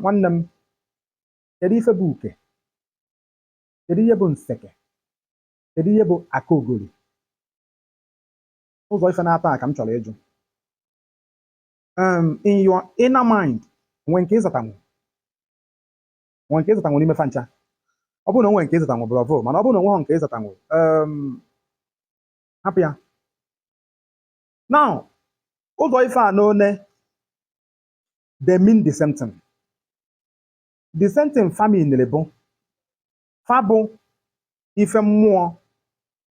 nwanne m kedu ife bụ uke kedu ihe bụ nseke kedu ihe bụ aka ogori ụzọ ife naatọ a ka m chọrọ ịjụ um, in your inner mind o nwe nke ị zatanwu o nwe nke ị zatanwu n'ime fa ncha ọ bụrụ na o nwe nke ị zatanwu bravo mana ọ bụrụ na o nwehọ nke ị zatanwu um, hapụ ya now ụzọ ife a n'one they mean the same thing the same thing fa miniri bụ fa bụ ife mmụọ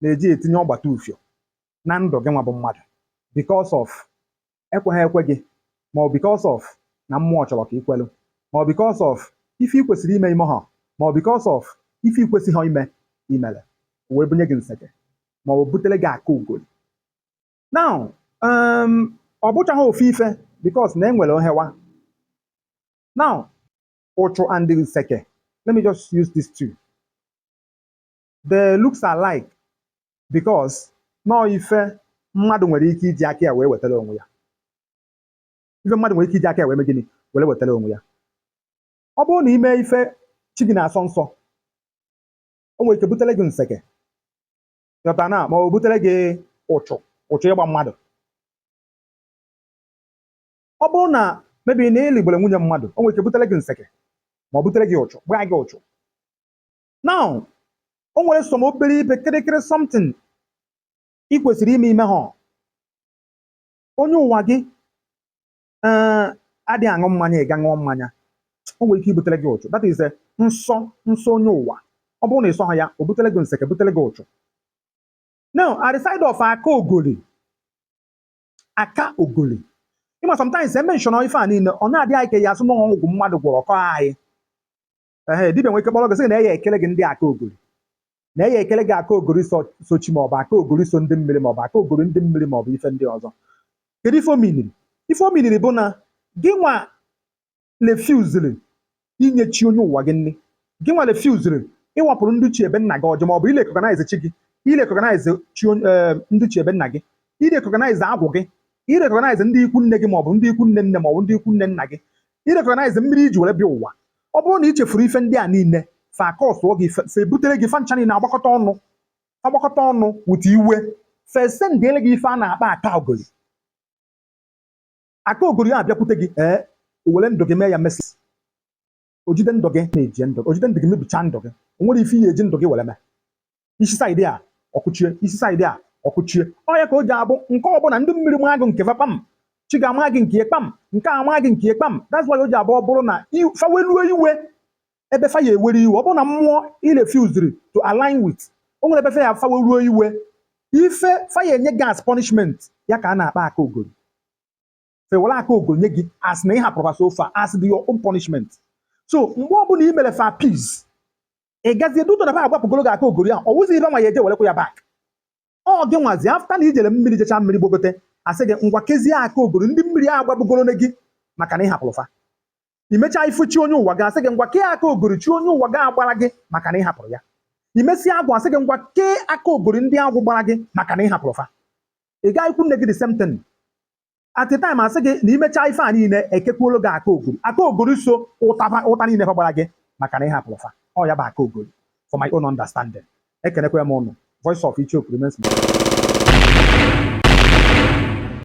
na-eji etinye ọgbata ufio na ndụ gị nwa bụ mmadụ because of ekweghị ekwe gị ma ọ because of na mmụọ chọrọ ka i kwelu ma ọ because of ife ị kwesịrị ime i mehọ ma ọ because of ife ị kwesịghị ime i mere wee bunye gị nseke ma ọ butere gị aka ogori now um, ọ bụchaghị ofu ife because na e nwere ohewa now ụchụ and nseke let me just use these two they looks alike because na ọ ife mmadụ nwere ike iji aka ya wee wetara onwe ya ife mmadụ nwere ike iji aka ya wee mee gịnị were wetara onwe ya ọ bụrụ na i mee ife chi gị na-asọ nsọ o nwere ike butere gị nseke ị ghọtana ma ọ butere gị ụchụ ụchụ ịgba mmadụ ọ bụrụ na maybe na ị lịgbere nwunye mmadụ o nwere ike butere gị nseke ma ọ butere gị ụchụ gbaa gị ụchụ now o nwere some obere ibe kịrịkịrị something ị kwesịrị ime i mehọ onye ụwa gị ee adịghị aṅụ mmanya ị gaa ṅụọ mmanya o nwere ike ibutere gị ụchụ that is a nsọ nsọ onye ụwa ọ bụrụ na ị sọghọ ya o butere gị nseke butere gị ụchụ now at the side of aka ogori aka ogori ị ma sometimes e menshọnọ ife a niile ọ na-adị anyị ka a ya-asị na ọgwụ mmadụ gwọrọ kọọ anyị ee dibia nwere ike kpọrọ gị sị na ya ekele gị ndị aka ogori na ya ekele gị aka ogori so so chi ma ọ bụ aka ogori so ndị mmiri ma ọ bụ aka ogori ndị mmiri ma ọ bụ ife ndị ọzọ kedu ife o miniri ife o miniri bụ na gị nwa refuziri inye chi onye ụwa gị nri gị nwa refuziri ịwapụrụ ndị chi ebe nna gị ọjị ma ọ bụ irekọganaize chi gị irekọganaize chi onye- eh, ndị chi ebe nna gị irekọganaize agwụ gị irekọganaize ndị ikwu nne gị ma ọ bụ ndị ikwu nne nne ma ọ bụ ndị ikwu nne nna gị irekọganaize mmiri i ji were bịa ụwa Ọ bụrụ na i chefuru ife ndị a niile, fa akọsụọ gị, fa fa ebutere gị fa ncha niile agbakọta ọnụ, fa gbakọta ọnụ wụta iwe, fa esendịere gị ife a na-akpọ aka ogori. Aka ogori a bịakwute gị, ee, o were ndụ gị mee ya mess. O jide ndụ gị mebie ndụ gị, o jide ndụ gị mebichaa ndụ gị. O nwere ife i ya-eji ndụ gị were mee. i si side a ọ kụchie i si side a ọ kụchie ọ ya ka o ji abụ nke ọbụla ndị mmiri maa gị nke fa kpam chi ga-ama gị nke kpam nke a maa gị nke kpam that's why o ji abụ ọ bụrụ na fa weluo iwe ebe fa ya ewere iwe ọ bụrụ na mmụọ i refuziri to align with o nwere ebe fa ya fa weluo iwe ife fa ya enye gị as punishment ya ka a na-akpa aka ogori fa ewere aka ogori nye gị as na ị hapụrụ fa as the your own punishment so mgbe ọbụla i mere fa peace ị gazie due to na fa agbapụgoro gị aka ogori ahụ ọ wụzi ibe nwa ya eje werekwa ya back ọ gị nwazi after na i jere mmiri jecha mmiri gbogote a sị gị ngwa kezie aka ogori ndị mmiri a agbapụgoro na gị maka na ị hapụrụ fa i mechaa ife chi onye ụwa gị a sị gị ngwa kee aka ogori chi onye ụwa gị agbara gị maka na ị hapụrụ ya i mesịa agwụ a sị gị ngwa kee aka ogori ndị agwụ gbara gị maka na ị hapụrụ fa ị gaa ikwu nne gị the same thing at the time a sị gị na i mechaa ife a niile e kekwuolu gị aka ogori aka ogori so ụtaba ụta niile fa gbara gị maka na ị hapụrụ fa ọ ya bụ aka ogori for my own understanding ekenekwa m ụnụ voice of ichioku remains my